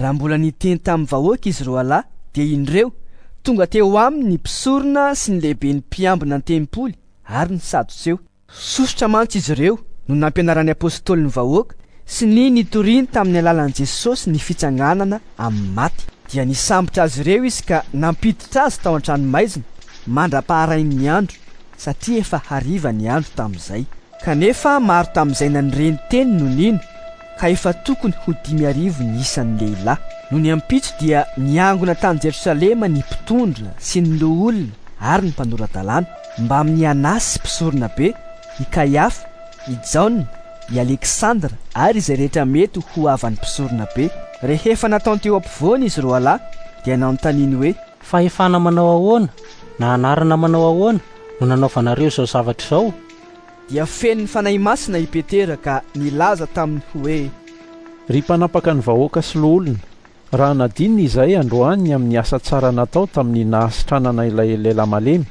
Raha mbola niteny tamin'ny vahoaka izy roalahy, dia indreo, tonga teo aminy ny mpisorona sy ny lehiben'ny mpiambina an-tempoly ary ny Sadotseo. Sosotra mantsy izy ireo no nampianaran'ny apostoly ny vahoaka sy ny nitoriany tamin'ny alalan'i Jesosy ny fitsanganana amin'ny maty. Dia nisambotra azy ireo izy ka nampiditra azy tao an-tranomaizina mandra-paharain'ny andro, satria efa hariva ny andro tamin'izay. Kanefa maro tamin'izay nanire ny teny no nino. ka efa tokony ho dimy arivo ny isan'ny lehilahy. Nony ampitso dia niangona tany Jerosalema ny mpitondra sy ny loholona ary ny mpanora-dalàna, mbamin'i Anasy mpisoronabe, i Kaiafa, i Jaona, i Aleksandra ary izay rehetra mety ho havan'ny mpisoronabe. Rehefa nataony teo ampovoany izy roalahy dia nanontaniany hoe. Fahefana manao ahoana na anarana manao ahoana no nanaovanareo izao zavatra izao? dia feno ny Fanahy Masina i Petera ka nilaza taminy hoe. Ry mpanapaka ny vahoaka sy loholona, raha nadinony izahay androany amin'ny asa tsara natao tamin'ny nahasitranana ilay lehilahy malemy,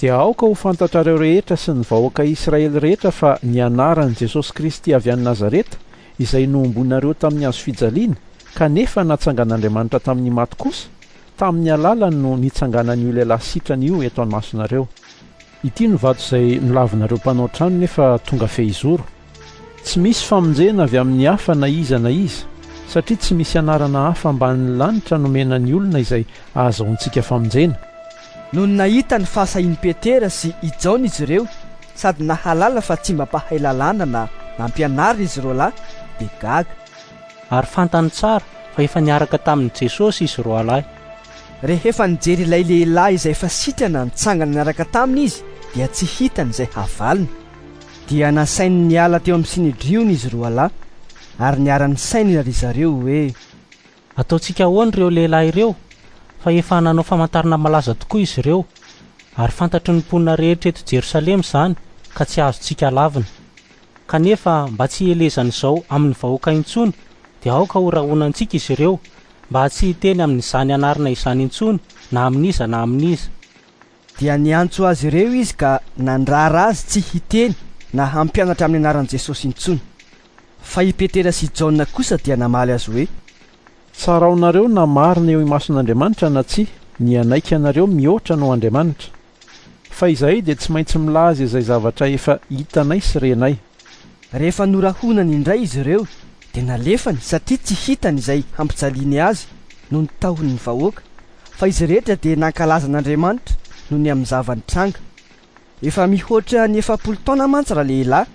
dia aoka ho fantatrareo rehetra sy ny vahoaka Israely rehetra fa ny anaran'i Jesosy Kristy avy any Nazareta, izay nohomboinareo tamin'ny hazo fijaliana, kanefa natsangan'Andriamanitra tamin'ny maty kosa, tamin'ny alalany no nitsanganan'io lehilahy sitrana io eto anmasonareo. Ity no vato izay nolavinareo mpanao trano nefa tonga fehizoro. Tsy misy famonjena avy amin'ny hafa na iza na iza, satria tsy misy anarana hafa ambanin'ny lanitra nomena ny olona izay ahazahoantsika famonjena. Nony nahita ny fahasahian'i Petera sy i Jaona izy ireo sady nahalala fa tsy mba mpahay lalàna na nampianarina izy roalahy dia gaga. Ary fantany tsara fa efa niaraka tamin'i Jesosy izy roalahy. Rehefa nijery ilay lehilahy izay efa sitrana nitsangana niaraka taminy izy dia tsy hitany izay havaliny. Dia nasainy niala teo amin'ny Synedriona izy roa lahy ary niara-nisainina ry zareo hoe. Ataontsika ahoana ireo lehilahy ireo? Fa efa nanao famantarana malaza tokoa izy ireo, ary fantatry ny mponina rehetra eto Jerosalema izany ka tsy azontsika lavina. kanefa mba tsy hielezan'izao amin'ny vahoaka intsony, dia aoka ho rahonantsika izy ireo, mba tsy hiteny amin'izany anarana izany intsony na amin'iza na amin'iza. Dia niantso azy ireo izy ka nandrara azy tsy hiteny na hampianatra amin'ny anaran'i Jesosy intsony. Fa i Petera sy Jaona kosa dia namaly azy hoe. Tsaraonareo na marina eo imason'Andriamanitra na tsia, ny hanaiky anareo mihoatra noho Andriamanitra. Fa izahay dia tsy maintsy milaza izay zavatra efa hitanay sy renay. Rehefa norahonany indray izy ireo, dia nalefany satria tsy hitany izay hampijaliany azy noho ny tahony ny vahoaka, fa izy rehetra dia nankalaza an'Andriamanitra noho ny amin'ny zava-nitranga. Efa mihoatra ny efapolo taona mantsy ralehilahy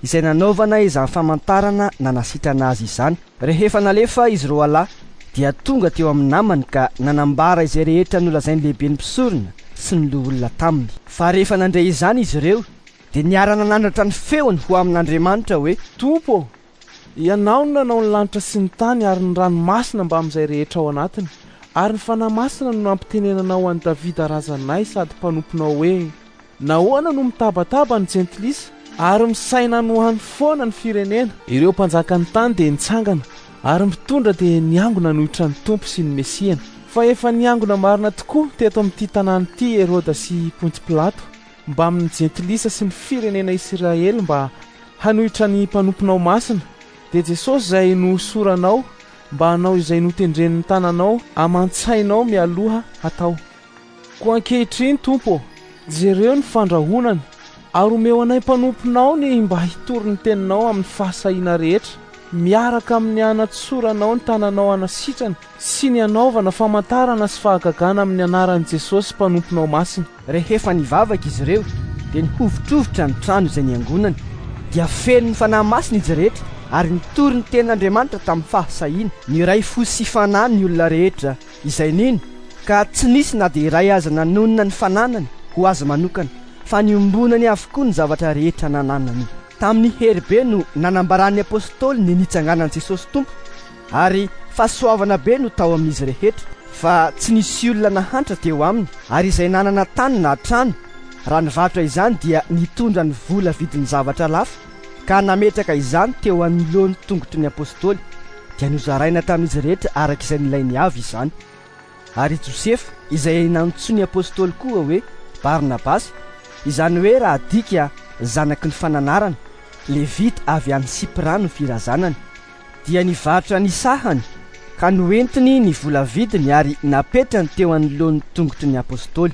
izay nanaovana izany famantarana nanasitrana azy izany. Rehefa nalefa izy roalahy dia tonga teo amin'ny namany ka nanambara izay rehetra nolazain'ny lehiben'ny mpisorona sy ny loholona taminy. Fa rehefa nandre izany izy ireo dia niara-nanandratra ny feony ho amin'Andriamanitra hoe. Tompo ô, Ianao no nanao ny lanitra sy ny tany ary ny ranomasina mbamin'izay rehetra ao anatiny, ary ny Fanahy Masina no nampitenenanao an'i Davida razanay sady mpanomponao hoe. Nahoana no mitabataba ny jentilisa ary misaina ny ho any foana ny firenena? Ireo mpanjakan'ny tany dia nitsangana ary mpitondra dia niangona hanohitra ny Tompo sy ny Mesiany. Fa efa niangona marina tokoa teto amin'ity tanàna ity i Heroda sy i Ponty Pilato mbamin'ny jentilisa sy ny firenena Isiraely mba hanohitra ny mpanomponao masina. Dia Jesosy izay nohosoranao mba hanao izay notendren'ny tananao aman-tsainao mialoha hatao. Koa ankehitriny, Tompo ô, jereo ny fandrahonany, ary omeo anay mpanomponao ny mba hitory ny Teninao amin'ny fahasahiana rehetra, miaraka amin'ny hanatsoranao ny tananao hanasitrana sy ny hanaovana famantarana sy fahagagana amin'ny anaran'i Jesosy Mpanomponao Masina. Rehefa nivavaka izy ireo, dia ny hovitrovitra ny trano izay niangonany dia feno ny Fanahy Masina izy rehetra, ary nitory ny Tenin'Andriamanitra tamin'ny fahasahiana. Niray fo sy fanahy ny olona rehetra izay nino ka tsy nisy na dia iray aza nanonona ny fananany ho azy manokana fa niombonany avokoa ny zavatra rehetra nananany. Tamin'ny hery be no nanambaran'ny Apôstôly ny nitsanganan'i Jesôsy Tompo ary fahasoavana be no tao amin'izy rehetra fa tsy nisy olona nahantra teo aminy ary izay nanana tany na trano raha nivarotra izany dia nitondra ny vola vidin'ny zavatra lafo ka nametraka izany teo anoloan'ny tongotry ny apostoly, dia nozaraina tamin'izy rehetra araka izay nilainy avy izany. Ary i Josefa, izay nantsoin'ny apostoly koa hoe Barnabasy, izany hoe raha adika zanaky ny fananarana, Levita avy any Sipra no firazanany, dia nivarotra ny sahany ka noentiny ny vola vidiny ary napetrany teo anoloan'ny tongotry ny apostoly.